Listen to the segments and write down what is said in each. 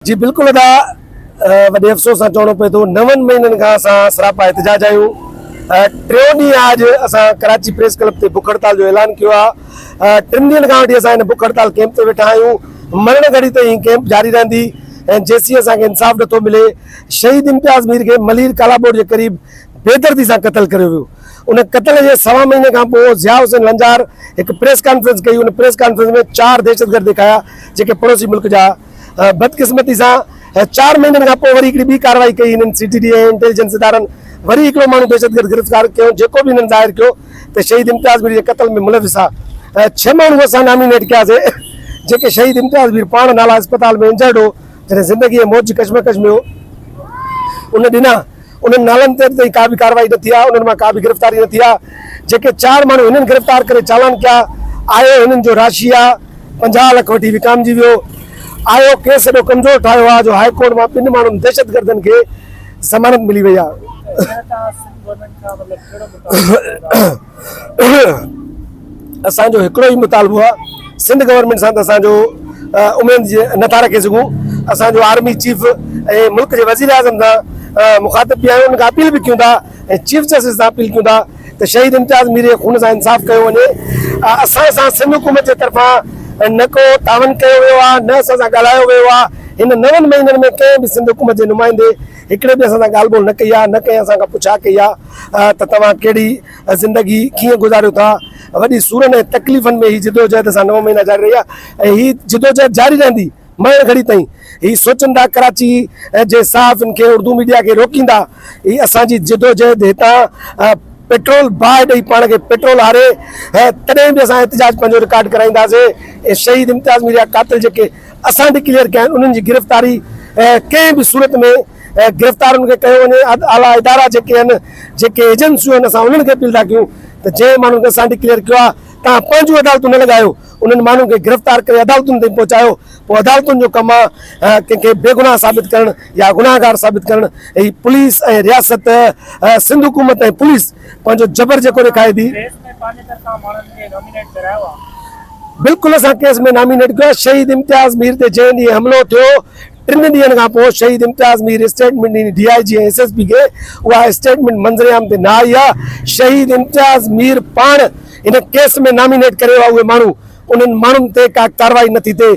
جي بلڪل ادا وڏي افسوس سان چوڻو پوي ٿو نون مهينن کان اسان سراپا احتجاج آهيون ٽيون ڏينهن آج اسان ڪراچي پريس ڪلب تي بک هڙتال جو اعلان ڪيو آهي ٽن ڏينهن کان وٺي اسان هن بک هڙتال ڪيمپ تي ويٺا آهيون مرڻ گهڙي تائين هي ڪيمپ جاري رهندي ۽ جيسين اسان کي انصاف نٿو ملي شهيد امتياز مير کي ملير ڪالابوڙ جي قريب بيدردي سان قتل ڪريو ويو ان قتل جي سوا مهيني کان پوء ضياء حسين لنجار هڪ پريس ڪانفرنس ڪئي ان پريس ڪانفرنس ۾ چار دهشتگرد ڏيکايا جيڪي پڙوسي ملڪ جا بدقسمتي سان چار مهينن کان پوء وري هڪڙي ٻي ڪارروائي ڪئي هنن سي ٽي ڊي ۽ انٽيليجنس ادارن وري هڪڙو ماڻهو دهشتگرد گرفتار ڪيو جيڪو به هنن ظاهر ڪيو ته شهيد امتياز مير جي قتل ۾ ملوث آ ڇهه ماڻهو اسان نامينيٽ ڪياسين جيڪي شهيد امتياز مير پاڻ نالا اسپتال ۾ انجرڊ هو جڏهن زندگي ۽ موت جي ڪشمڪش ۾ هو ان ڏنا. انهن نالن تي اڄ تائين ڪا به ڪارروائي نه ٿي آهي، انهن مان ڪا به گرفتاري نه ٿي آهي، جيڪي چار ماڻهو هنن گرفتار ڪري چالان ڪيا آء او هنن جو راشي آء پنجاهه لک وٺي وڪامجي ويو، آء او ڪيس ايڏو ڪمزور ٺاهيو آء جو هاء ڪورٽ مان ٻن ماڻهن دهشتگردن کي ضمانت ملي وئي آء. اسان جو هڪڙو ئي مطالبو آ سنڌ گورنمينٽ سان ته اسان جو اميد نٿا رکي سگهون اسان جو آرمي چيف ۽ ملڪ جي وزير اعظم سان مخاطب به آهيون ان کان اپيل به ڪيون ٿا ۽ چيف جسٽس سان اپيل ڪيون ٿا ته شهيد امتياز مير جي خون سان انصاف ڪيو وڃي اسان سان سنڌ حڪومت جي طرفان نه ڪو تعاون ڪيو ويو آ نه اسان سان ڳالهايو ويو آ هن نون مهينن ۾ ڪنهن به سنڌ حڪومت جي نمائندي هڪڙي به اسان سان ڳالهه ٻولهه نه ڪئي آ نه ڪنهن اسان کان پڇا ڪئي آ. ته توهان ڪهڙي زندگي ڪيئن گذاريو ٿا. وڏي سورن ۽ تڪليفن ۾ هي جدوجهد اسان نو مهينا جاري رهي آهي ۽ هي جدوجهد جاري رهندي مرڻ گهڙي تائين. هي سوچندا ڪراچي جي صحافين کي اردو ميڊيا کي روڪيندا هي اسان جي جدوجهد هتان پيٽرول باهه ڏئي پاڻ کي پيٽرول هاري تڏهن به اسان احتجاج پنهنجو رڪارڊ ڪرائينداسين ۽ شهيد امتياز ميريا قاتل جيڪي اسان ڊڪليئر ڪيا آهن انهن جي گرفتاري ڪنهن به صورت ۾ گرفتارن کي ڪيو وڃي اعليٰ ادارا جيڪي آهن جيڪي ايجنسيون آهن اسان انهن کي اپيل ٿا ڪيون ته جنهن ماڻهن کي اسان ڊڪليئر ڪيو آهي توهان پنهنجون عدالتون نه لڳايو انهن ماڻهن کي گرفتار ڪري عدالتن تائين پهچايو پوء عدالتن جو ڪم آهي ڪنهن کي بيگناهه ثابت ڪرڻ يا گناهگار ثابت ڪرڻ هي پوليس ۽ رياست سنڌ حڪومت ۽ پوليس پنهنجو جبر جيڪو ڏيکاري ٿي بلڪل اسان ڪيس ۾ نامينيٽ ڪيو شهيد امتياز مير تي جنهن ڏينهن حملو ٿيو ٽن ڏينهن کان پوء شهيد امتياز مير اسٽيٽمينٽ ڏني، D I G ۽ S S P کي اها اسٽيٽمينٽ منظرعام تي نه آئي آ، شهيد امتياز مير پاڻ هن ڪيس ۾ نامينيٽ ڪريو آ اهي ماڻهو، انهن ماڻهن تي ڪا ڪارروائي نه ٿي ٿئي،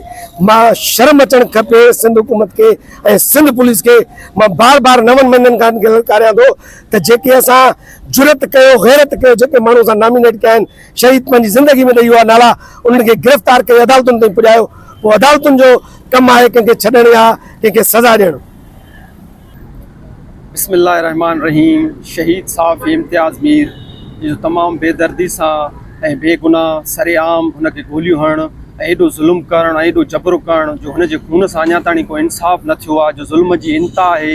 مان شرم اچڻ کپي سنڌ حڪومت کي ۽ سنڌ پوليس کي، مان بار بار نون مهينن کان هن کي للڪاريان ٿو ته جيڪي اسان جرئت ڪيو غيرت ڪيو جيڪي ماڻهو اسان نامينيٽ ڪيا آهن شهيد پنهنجي زندگي ۾ ته اهو آهي نالا انهن کي گرفتار ڪري عدالتن تائين پڄايو پوء عدالتن جو ڪم آهي ڪنهن کي ڇڏڻ يا ڪنهن کي سزا ڏيڻ. بسم الله الرحمٰن الرحيم شهيد صحافي امتياز مير جي جو تمام بي دردي سان ۽ بي گناهه سر عام هن کي گوليون هڻڻ ۽ ايڏو ظلم ڪرڻ ۽ ايڏو جبر ڪرڻ جو هن جي خون سان اڃا تائين ڪو انصاف نه ٿيو آهي جو ظلم جي انتها آهي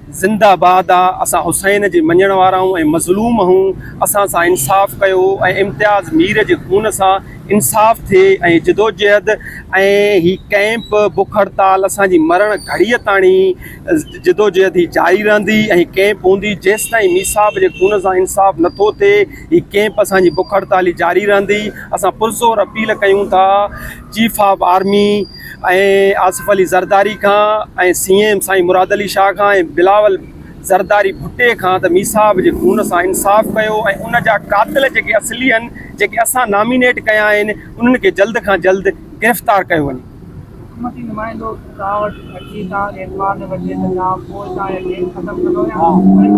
زنده باد آ اسان حسين جي مڃڻ وارا آهون ۽ مظلوم آهون اسان سان انصاف ڪيو ۽ امتياز مير جي خون سان انصاف ٿئي ۽ جدوجهد ۽ هي ڪئمپ بک هڙتال اسان جي مرڻ گهڙي تاڻي جدوجهد هي جاري رهندي ۽ هي ڪئمپ هوندي جيستائين ميصاحب جي خون سان انصاف نٿو ٿئي هي ڪئمپ اسان جي بک هڙتال هي جاري رهندي اسان پرزور اپيل ڪيون ٿا chief of army ۽ Asif Ali Zardari کان ۽ سي ايم سائين مراد علي شاهه کان ۽ بلاول زرداري ڀٽي کان ته مير صاحب جي خون سان انصاف ڪيو ۽ ان جا قاتل جيڪي اصلي هن جيڪي اسان نامينيٽ ڪيا آهن انهن کي جلد کان جلد گرفتار ڪيو وڃي. حڪومتي نمائندو توهان وٽ اچي توهان کي اعتبار نه وٺي ته توهان پوء توهان جا ڪيس ختم ڪندو يا وري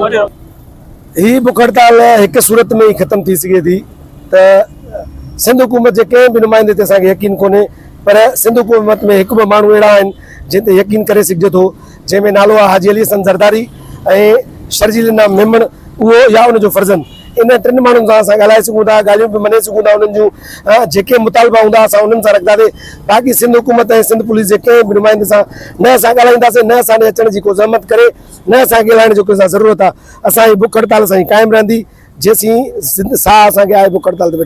ٻڌايو. هي بک هڙتال هڪ صورت ۾ ئي ختم ٿي سگهي ٿي ته سنڌ حڪومت جي ڪنهن به نمائندي تي اسان کي يقين ڪونهي پر سنڌ حڪومت ۾ هڪ ٻه ماڻهو اهڙا آهن جن تي يقين ڪري سگهجي ٿو جنهن ۾ نالو آهي حاجي علي حسن زرداري ۽ شرجيل نام ميمڻ اهو يا ان جو فرزند ان ٽن ماڻهن سان اسان ڳالهائي سگهون ٿا ڳالهيون به مڃي سگهون ٿا انهن جون جيڪي مطالبا هوندا اسان انهن سان رکنداسين باقي سنڌ حڪومت ۽ سنڌ پوليس جي ڪنهن به نمائندي سان نه اسان ڳالهائينداسين نه اسان ڏي اچڻ جي ڪو زحمت ڪري نه اسان کي ڳالهائڻ جو ڪنهن سان ضرورت آهي اسان جي بک هڙتال سائين قائم رهندي جيسين زندھ ساهه اسان کي آهي بک هڙتال تي ويٺا.